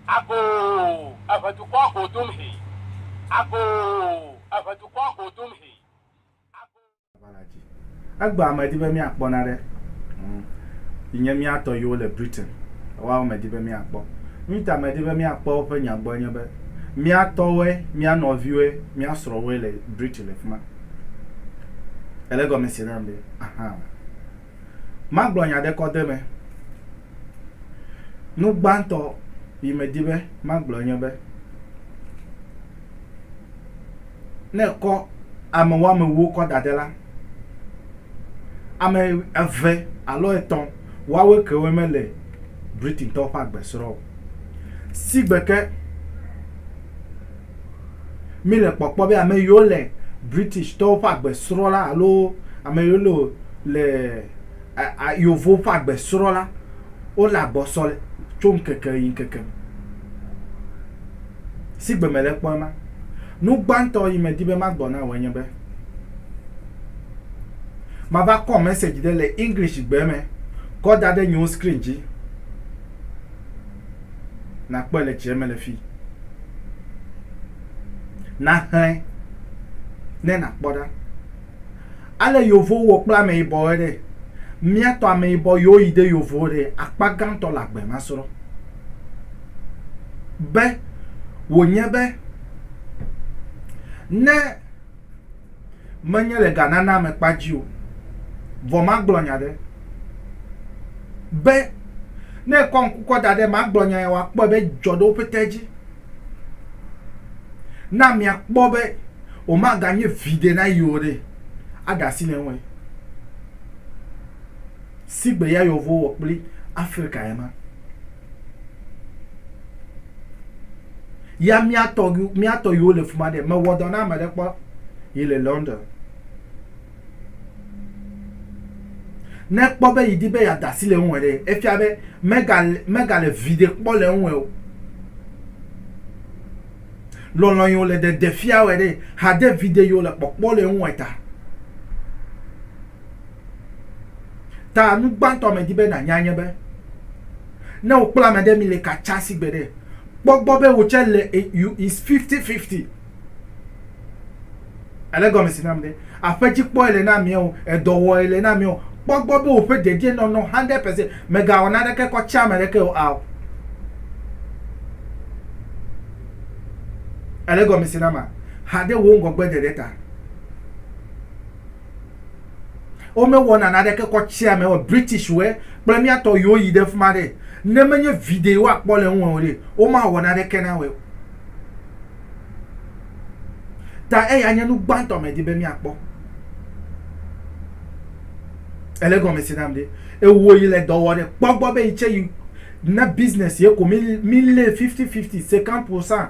Agoo, eve dukɔa go dom he. Agoo, eve dukɔa go dom he. Egbea medi be míakpɔ na ɖe yi nye mía tɔ yiwo le Britain. Woawo medi be míakpɔ. Nu ta medi be míakpɔ woƒe nya gbɔ nye be mía tɔwoe, mía nɔviwoe, mía srɔ̃woe le Britain le fi ma. Èle egɔme se nam be? Ahan. Magblɔ nya ɖe kɔde me. Nu gbãtɔ yi medi be magblɔ nye be, ne èkɔ ame woamewuwo kɔ da ɖe la, ame eve alo etɔ̃ woawe kewoe mele Britaintɔwo ƒe agbe srɔ̃ o. Sigbe ke Mi le kpɔkpɔ be ame yiwo le British tɔwo ƒe agbe srɔ̃ la alo ame yiwo le le yevowo ƒe agbe srɔ̃ la, wo le agbɔsɔ le tso ŋkeke yi ŋkeke me. Si gbe me le kpɔ ema. Nu gbãtɔ yi me di be ma gblɔ na wò nye be, ma va kɔ message ɖe le English gbe me kɔ da ɖe nyewo screen dzi. Nàkpɔe le tsia me le fii. Nàxlẽ ne nàkpɔ ɖa. Ale yeovowo wɔ kple ameyibɔwoe ɖe. Mía tɔ ameyibɔ yewo yi ɖe yeovowo ɖe akpa gãtɔ le agbe ma srɔ̃. Be wònye be ne. Menye le ga nana me kpa dzi o. Vɔ magblɔ nya ɖe. Be, ne ekɔ ŋku kɔ da ɖe eme agblɔ nya ya, wòakpɔe be dzɔ ɖe woƒe te dzi. Na miakpɔ be wòmaganye viɖe na yi o ɖe, aɖe asi le eŋue. Sigbe ya Yehovo wɔ kpli Afrika ye ma. Ya mía tɔ mía tɔ yiwo le fuma ɖe mewɔ dɔ na ame ɖe kpɔ yi le London. Ne kpɔ be yi di be ya dasi le ŋue ɖe efia be mega mega le vi ɖe kpɔ le ŋue o. Lɔlɔ yi le de de fia wɔ ɖe hade vi ɖe yi le kpɔkpɔ le ŋue ta. Ta nu gbãtɔ medi be nànya nye be, ne wokpla ame ɖe mi le katsa si gbeɖe, kpɔ gbɔ be wò tsɛ le e you is fifty fifty. Èle gɔmesi nam ɖe? Aƒedzikpɔe le na amea o, edɔwɔe le na amea o, kpɔ gbɔ be woƒe dedienɔnɔ hundred percent, mègawɔ naneke kɔ tsia ame ɖeke o ao. Èle gɔmesi nama? Haɖe wò ŋgɔgbeɖeɖe ta. womewɔ nana ɖeke kɔ tsia me wɔ british wɛ kple miatɔ yiwo yi ɖe fima ɖe ne menye video woakpɔ le ŋu o ɖe womawɔ na ɖeke na wɛ ta eya nye nu gbãtɔ me di be miakpɔ ele gɔme si nam ɖe ewo yi le dɔ wɔ ɖe kpɔ gbɔ be yi tse yi na business ye ko mi mi lé fifty fifty cinquante pour cent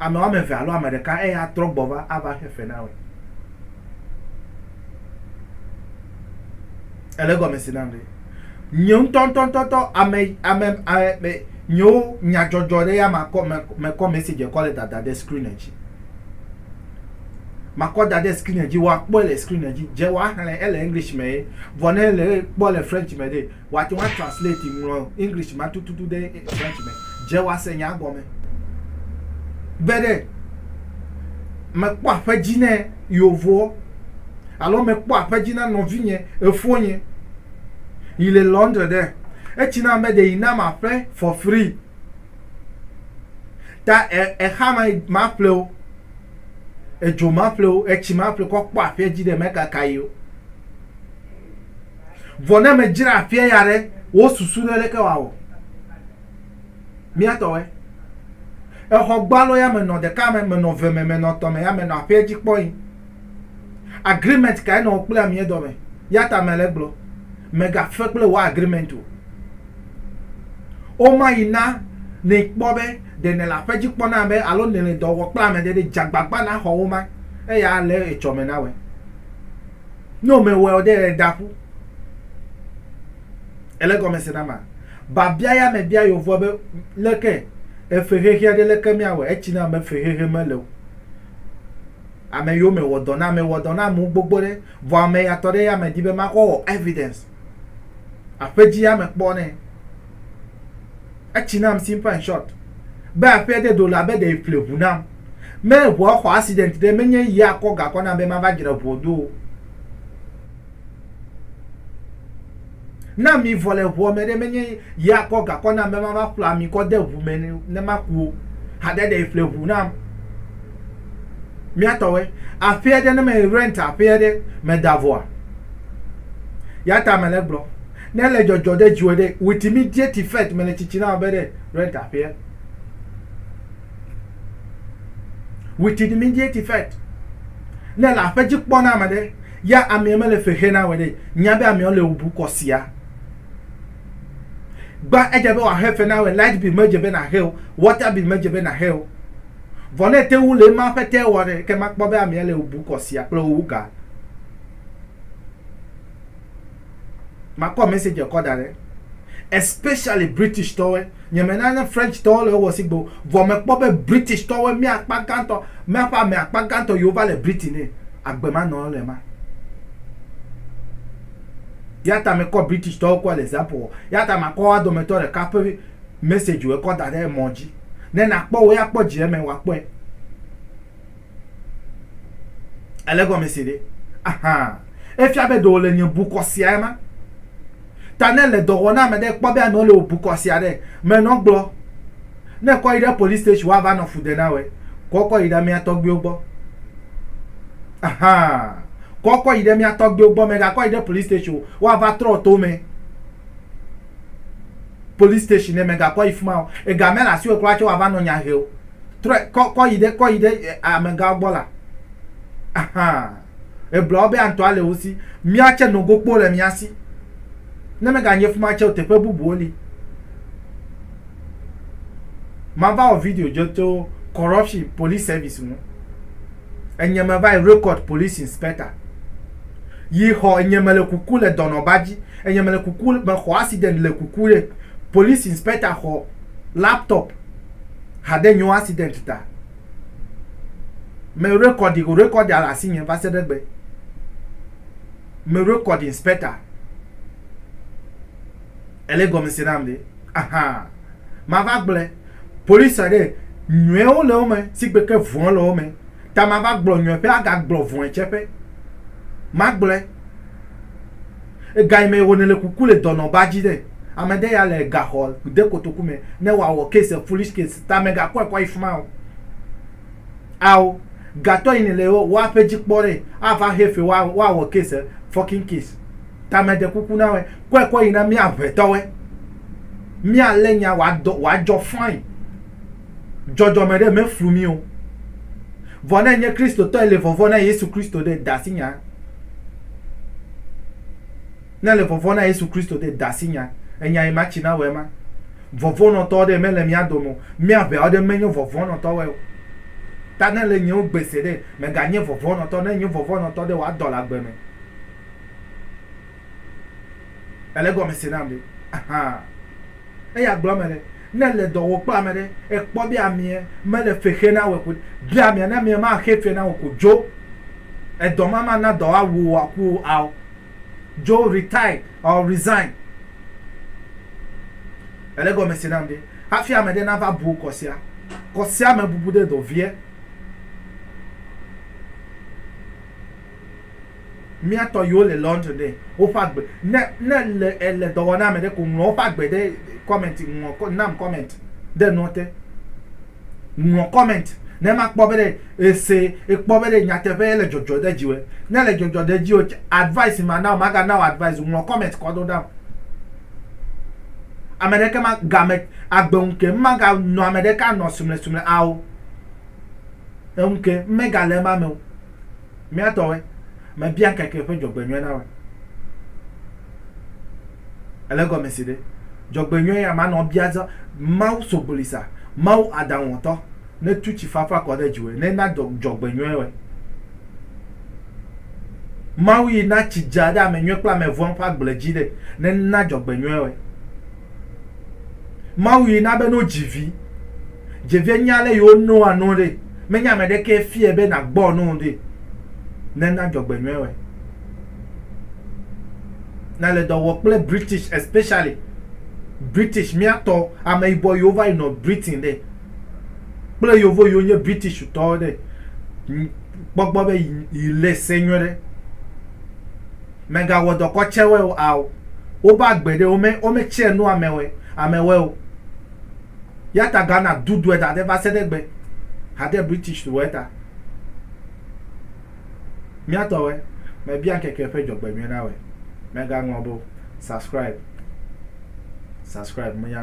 Ame woame eve alo ame ɖeka eye atrɔ gbɔ va ava xe fe na wòe. Ele gɔme si nam ɖe. Nye ŋutɔŋutɔŋutɔ ame ame ame nyewo nyadzɔdzɔ ɖe ya makɔ me mekɔ message kɔ le dada ɖe screen dzi. Makɔ da ɖe screen dzi woakpɔe le screen dzi dze woaxlẽ ele English me ye vɔ ne le kpɔ le French me ɖe Wòate ŋu atranslate, ŋlɔ English ma tututu ɖe French me. Dze wòase nyaa gɔme. Be ɖe mekpɔ aƒe dzi ne yeovoɔ, alo mekpɔ aƒe dzi na nɔvinye, efonye, yi le Londres ɖe, etsi nam be ɖe yi nam aƒe for free. Ta e, exa ma maƒle o, edzo maƒle o, etsi maƒle kɔ kpɔ aƒea dzi ɖe mekaka yi o. Vɔ ne ame dzra afia ya ɖe, wò susu ɖe leke wòawɔ? Mía tɔwɔe. Exɔ gbalo ya menɔ ɖeka me, menɔ eve me, menɔ etɔ̃ me ya menɔ aƒea dzi kpɔyi. Agreement kae nɔ wò kple amea dɔ me? Ya ta mele gblɔ, mègafe kple wò agreement o. Woma yi na nɛ kpɔ be ɖe nèle aƒe dzi kpɔ na be alo nèle dɔ wɔ kple ame ɖe ɖe, dze agbagba naxɔ woma, eya ale etsɔ me nawɔe. Ne womewɔe o ɖe eda ƒu. Ele gɔme se na ma. Babia ya me bia yovua be leke efe xexea ɖe leke mia wɔ etsi na me fe xexe me le o. Ame yo me wɔ dɔ na me wɔ dɔ na mu gbogbo ɖe vɔ ame ya tɔ ɖe ya me di be ma kɔ wɔ evidence. Aƒe dzi ya me kpɔ nɛ. Etsi nam simple and short. Be aƒea de do la be ɖe ƒle ʋu nam. Me ʋua xɔ accident ɖe menye yi akɔ gakɔ nam be mava dzra ʋua do. Na mi vɔ le ʋua me ɖe menye yi akɔ gakɔ nam be mava ƒla mi kɔ de ʋu me ne maku. Haɖe ɖe ƒle ʋu nam. Miatɔwe aƒea ɖe ne me rent aƒea ɖe me da vɔa. Yata me le gblɔ. Ne le dzɔdzɔ ɖe dziwɔ ɖe witi mi die ti fet me le tsitsi na be ɖe red aƒea. Witi di mi die ti fet. Ne le aƒe dzi kpɔ na me ɖe ya amia me le fexe na we ɖe nya be amia le obu kɔ sia. Gba edze be wa he fe na we light bill me dze be na he o water bill me dze be na he o. Vɔ ne te wu le ma ƒe te wɔ ɖe ke ma kpɔ be amia le obu kɔ sia kple owu ga. Makɔ message kɔ da ɖe. Especially British tɔwɔe. Nye me na ne French tɔwo le wɔ sigbe o. Vɔ me kpɔ be British tɔwɔe mía akpa gãtɔ, mía ƒe ame akpa gãtɔ yi wo va le Britain ne, agbe ma nɔ le ma. Ya ta me kɔ British tɔwo kɔ le example wɔ. Ya ta ma kɔ wa dome tɔ ɖe ka ƒe message wɔ kɔ da ɖe emɔ dzi. Ne na kpɔ wo ya kpɔ dzi eme wa kpɔe. Ele gɔme se ɖe? Ahan. Efia be ɖe wòle nye bukɔ sia ema. Ta ne èle dɔ wɔm na ame ɖe, kpɔ be amewo le wò bukɔ sia ɖe me nɔ gblɔ. Ne èkɔ yi ɖe police station woava nɔ fu de na wòe. Kɔ kɔ yi ɖe mía tɔgbuiwo gbɔ. Ahan. Kɔ kɔ yi ɖe mía tɔgbuiwo gbɔ. Mègakɔ yi ɖe police station o. Woava trɔ to mɛ. police station ne mègakɔ yi fi ma o ega mele asiwò kura tse wòava nɔ nya he o trɔe kɔ kɔ yi ɖe kɔ yi ɖe eh, amegawo gbɔ la ahan ebla wo be antɔa le wo si mía tse nogokpo le mía si ne meganye fi ma tse o teƒe bubuwo li mava wɔ video dze tso corruption police service ŋu enye meva yi record police inspector yi xɔ enye mele kuku le dɔnɔba dzi Enye mele kuku mexɔ accident le kuku ɖe police inspector xɔ laptop hade nyo accident ta me record go record ya le asinye va se ɖe gbe me record inspector ele gɔme se nam ɖe aha mava gblɔ police ɖe nyuewo le wo me sigbe ke vɔn le wo me ta mava gblɔ nyueƒe aga gblɔ vɔn tseƒe magblɔ Ega yi me wòne le kuku le dɔnɔ ba dzi ɖe. Ame ɖe ya le ega xɔ de kotoku me ne wa wɔ case foolish case ta me ga kɔe kɔ yi fima o. Ao ga tɔ yi ne le wa ƒe dzi kpɔ ɖe a va he fe wa wa wɔ case fucking case ta me de kuku na wɛ kɔe kɔ yi na mia ŋɛ tɔ wɛ. Mia le nya wa dɔ wa jɔ fine. dzɔdzɔme ɖe meflu mí o. Vɔ ne enye Kristotɔ ele vɔvɔ̃ na Yesu Kristo ɖe, de asi nya. Ne le vɔvɔ̃ na Yesu Kristo ɖe, de asi nya. Enya yi ma tsi na wɔ ema. Vɔvɔ̃nɔtɔ ɖe mele mía dome o. Mía ʋeawo ɖe menye vɔvɔ̃nɔtɔ wɔe o. Ta ne le nyewo gbe se ɖe, mèganye vɔvɔ̃nɔtɔ. Ne enye vɔvɔ̃nɔtɔ ɖe, wòa dɔ le agbe me. Ele egɔme se nam ɖe? Ahan. Eya gblɔ mele. Ne èle dɔ wɔm kple ame ɖe, èkpɔ be ameɛ mele fe xe na wò ko bia ameɛ. Ne ameɛ maxe fe na wò ko, dzo. Edɔ ma mana dɔ awu wò aku wò ao. Dzo, retire or resign. Èle gɔme se nam ɖe? Hafi ame ɖe nava bu kɔ sia, kɔ sia me bubu ɖe dɔ viɛ. mía tɔ yiwo le Londres ɖe, woƒe agbe, ne, ne èle, èle dɔ wɔm na ame ɖe ko, ŋlɔ woƒe agbe ɖe comment, ŋlɔ, nam comment ɖe nua te. Ŋlɔ comment, ne makpɔ be ɖe èse, èkpɔ be ɖe nyateƒe ele dzɔdzɔ ɖe dziwòe. Ne ele dzɔdzɔ ɖe dziwò, advice mana wò, magana wò advice o, ŋlɔ comment kɔ ɖo nam. Ame ɖeke ma, game, agbe ŋu ke, maganɔ ame ɖeka anɔ sumlesumle ao. Eŋu ke, megale ema me o. Mía tɔwoe. Mebia ŋkeke ƒe dzɔgbenyɔe na woe. Ele egɔme si ɖe? Dzɔgbenyɔe ya manɔ bia zã. Mawu sobolisa, Mawu aɖaŋuwɔtɔ, netu tsi fafa kɔ ɖe dziwòe, nena dɔ dzɔgbenyɔe woe. Mawu yi na tsi dza ɖe ame nyui kple ame vɔ̃ ƒe agble dzi ɖe, nena dzɔgbenyɔe woe. Mawu yi na be no dzi vi. Dze vie nya ale yewo noa nuwo ɖe. Menye ame ɖekee fia be nàgbɔ nu ɖe. Ne na dzɔgbenyuie wɔe. Na le dɔ wɔ kple British especially British mía tɔ ameyibɔ yiwo va yi nɔ Britain ɖe kple yovo yiwo nye British tɔwo ɖe. Kpɔ gbɔ be yi le se nyuie ɖe. Mègawɔ dɔ kɔtsɛwɔe o ao. Wobe agbe ɖe wome wometsɛ nu amewɔe amewɔe o. Eya ta Ghana dudɔe da ɖɛ va se ɖe egbe hade British tso eta. Mía tɔwɛ, mebia ŋkeke ƒe dzɔgbenyuie na wɛ. Mega ŋlɔ be o. Subscribe. Subscribe. Menya.